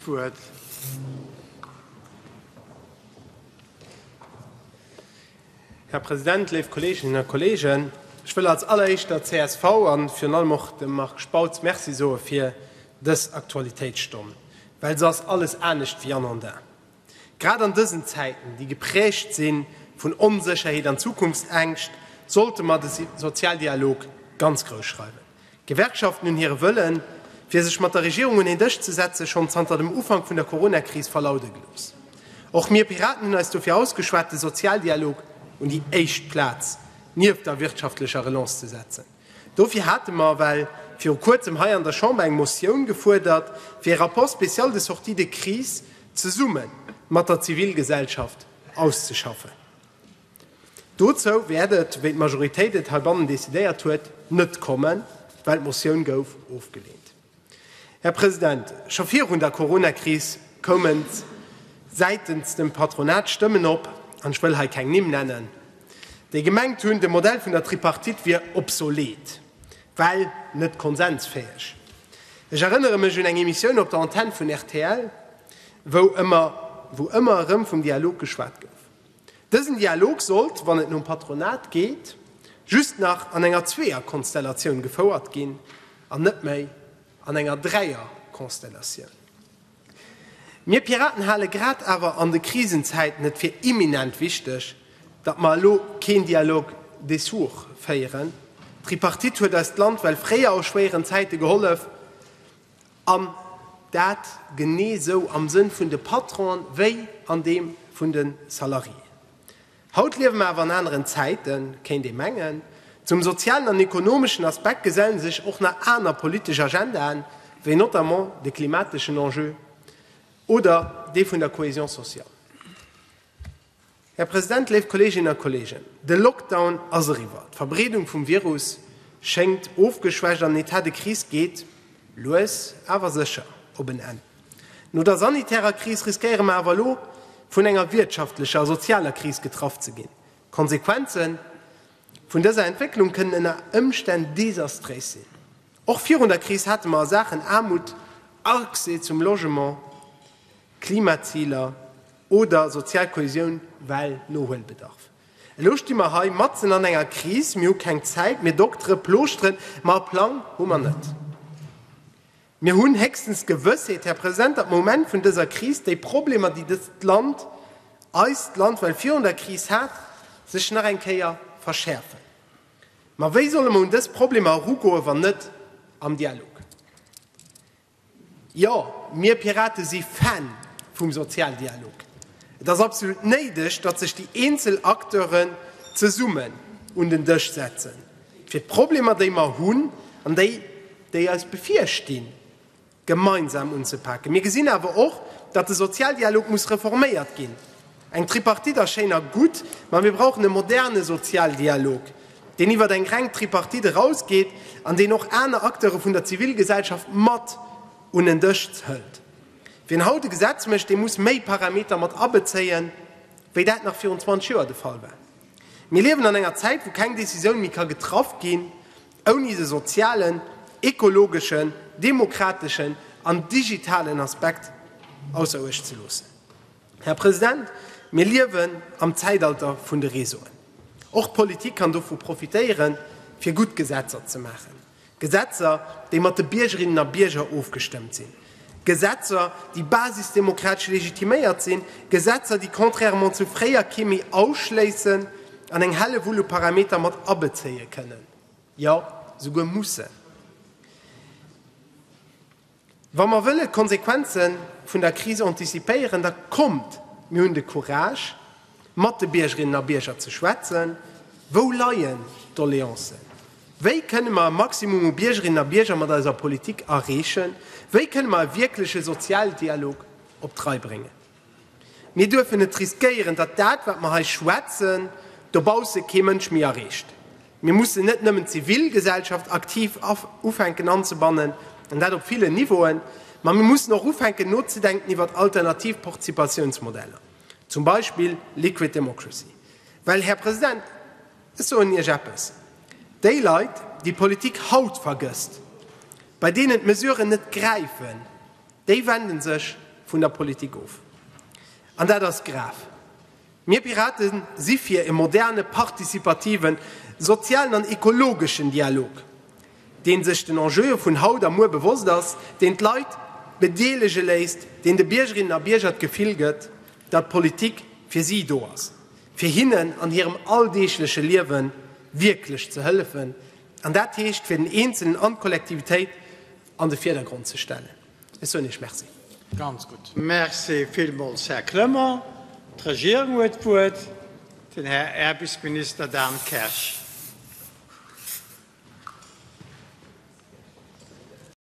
Wuert. Här President, léif Kolleeginnen a Kolleegen, ech wëll als alleréischt der csv a virun allem och dem Marc Spautz Merci soe fir dës Aktualitéitsstonn, well se ass alles anescht wéi anodin. Grad an dësen Zäiten, déi geprägt si vun Onsécherheet an Zukunftsängscht, sollte mer de Sozialdialog ganz grouss schreiwen. D'Gewerkschaften hunn hire Wëllen, fir sech mat der Regierung un een Dësch ze setzen, schonn zanter dem Ufank vun der Corona-Kris verlaude gelooss. Och mir Piraten hunn eis dofir ausgeschwat, de Sozialdialog un déi éischt Plaz nieft der wirtschaftlecher Relance ze setzen. Dofir hate mer well viru Kuerzem hei an der Chamber eng Motioun gefuerdert, fir ee Rapport spécial de sortie de crise zesumme mat der Zivilgesellschaft auszeschaffen. Dozou wäert et, wéi d'Majoritéit et heibannen decidéiert huet, net kommen, well d'Motioun gouf ofgelehnt. Här President, scho virun der Coronakris koumen säitens dem Patronat Stëmmen op, an ech wëll hei keng Nimm nennen, déi gemengt hunn, de Modell vun der Tripartite wier obsolet, well net konsensfäeg. Ech erënnere mech un eng Emissioun op der Antenn vun rtl, wou ëmmer wou ëmmer erëm vum Dialog geschwat gouf. Dësen Dialog sollt, wann et nom Patronat geet, just nach an enger Zweeër-Konstellatioun gefouert ginn an net méi an enger Dräier-Konstellatioun. Mir Piraten hale grad awer an de Krisenzäiten et fir imminent wichteg, datt mer elo keen Dialog des sourds féieren. D'Tripartite huet eis d'Land well fréier a schwéieren Zäite gehollef. an dat genee esou am Sënn vun de Patronen wéi an deem vun de Salariéen. Haut liewe mer awer an aneren Zäiten, kéint ee mengen. Zum sozialen an ekonomeschen Aspekt geselle sech och nach aner politesch Agendaen, wéi notamment de klimateschen Enjeu oder dee vun der Cohésion sociale. Här President, léif Kolleeginnen a Kolleegen, de Lockdown ass eriwwer, d'Verbreedung vum Virus schéngt ofgeschwächt an den Etat de crise geet lues awer sécher op en Enn. No der sanitärer Kris riskéiere mer awer elo, vun enger wirtschaftlecher a sozialer Kris getraff ze ginn. D'Konsequenze vun dëser Entwécklung kënnen ënner Ëmstänn desastréis sinn. Och virun der Kris hate mer a Saachen Aarmut, Accès zum Logement, Klimaziler oder sozial Kohäsioun well Nohuelbedarf. Elo sti mer hei matzen an enger Kris, mir hu keng Zäit, mir doktere Plooschteren, ma e Plang hu mer net. Mir hunn héchstens d'Gewëssheet, Här President, datt d'Moment vun dëser Kris, déi Problemer, déi dëst Land, eist Land well virun der Kris hat, sech nach eng Kéier verschäerfen. Ma wéi solle mer un dës Problemer erugoen, wann net am Dialog? Jo, mir Piraten si Fan vum Sozialdialog. Et ass absolut néideg, datt sech déi eenzel Acteuren zesummen un den Dësch setzen, fir d'Problemer, déi mer hunn an déi, déi eis bevirstinn, gemeinsam unzepaken. Mir gesinn awer och, datt de Sozialdialog muss reforméiert ginn. Eng Tripartite ass schéin a gutt, ma mir brauchen e moderne Sozialdialog, deen iwwert eng reng Tripartite erausgeet an deen och aner Acteure vun der Zivilgesellschaft mat un en Dësch hëlt. Wien haut e Gesetz mécht, dee muss méi Parameter mat abezéien, wéi dat nach virun 20 Joer de Fall war. Mir liewen an enger Zäit, wou keng Decisioun méi ka getraff ginn, Ouni de sozialen, ekologeschen, demokrateschen an digitalen Aspekt ausser Uecht ze loossen. Här President, mir liewen am Zäitalter vun de Réseauen. Och d'Politik kann dovu profitéieren, fir gutt Gesetzer ze maachen, Gesetzer, déi mat de Biergerinnen a Bierger ofgestëmmt sinn, Gesetzer, déi basisdemokratesch legitiméiert sinn, Gesetzer, déi contrairement zu fréier kee méi ausschléissen an eng Hellewull u Parameter mat abezéie kënnen, jo souguer mussen, wa mer wëllen d'Konsequenze vun der Kris anticipéieren. Da kommt, mir hunn de Courage, Mat de Biergerinnen a Bierger ze schwätzen, Wou leien d'Doleancen? Wéi kënne mer e Maximum u Biergerinnen a Bierger mat eiser Politik erreechen? Wéi kënne mer e wierkleche Sozialdialog op d'Rei bréngen? Mir duerfen net riskéieren, datt dat, wat mer hei schwätzen, dobausse kee Mënsch méi erreecht. Mir mussen net nëmmen d'Zivilgesellschaft aktiv ufänken anzebannen, an dat op villen Niveauen, ma mir mussen och ufänken nozedenken iwwert alternativ Participatiounsmodeller. Zum Beispill Liquid Democracy. Well, Här President, ech soen Iech eppes, Déi Leit, déi d'Politik haut vergësst, bei deenen d'Mesuren net gräifen, déi wende sech vun der Politik of. An dat ass grav. Mir Pirate si fir e moderne, partizipativen, sozialen an ekologeschen Dialog. deen sech den Enjeue vun haut a muer bewosst ass, deen d'Leit bedeelege léisst, deen de Biergerinnen a Bierger d'Gefill gëtt, datt d'Politik fir si do ass, fir hinnen an hirem alldeegleche Liewe wierklech ze hëllefen, an dat heescht, fir den Eenzelen an d'Kollektivitéit an de Virdergrond ze stellen. Ech soen Iech Merci. Ganz gutt. Merci villmools, Här Clement. D'Regierung huet d'Wuert, den Här Äerbisminister Dan Kersch.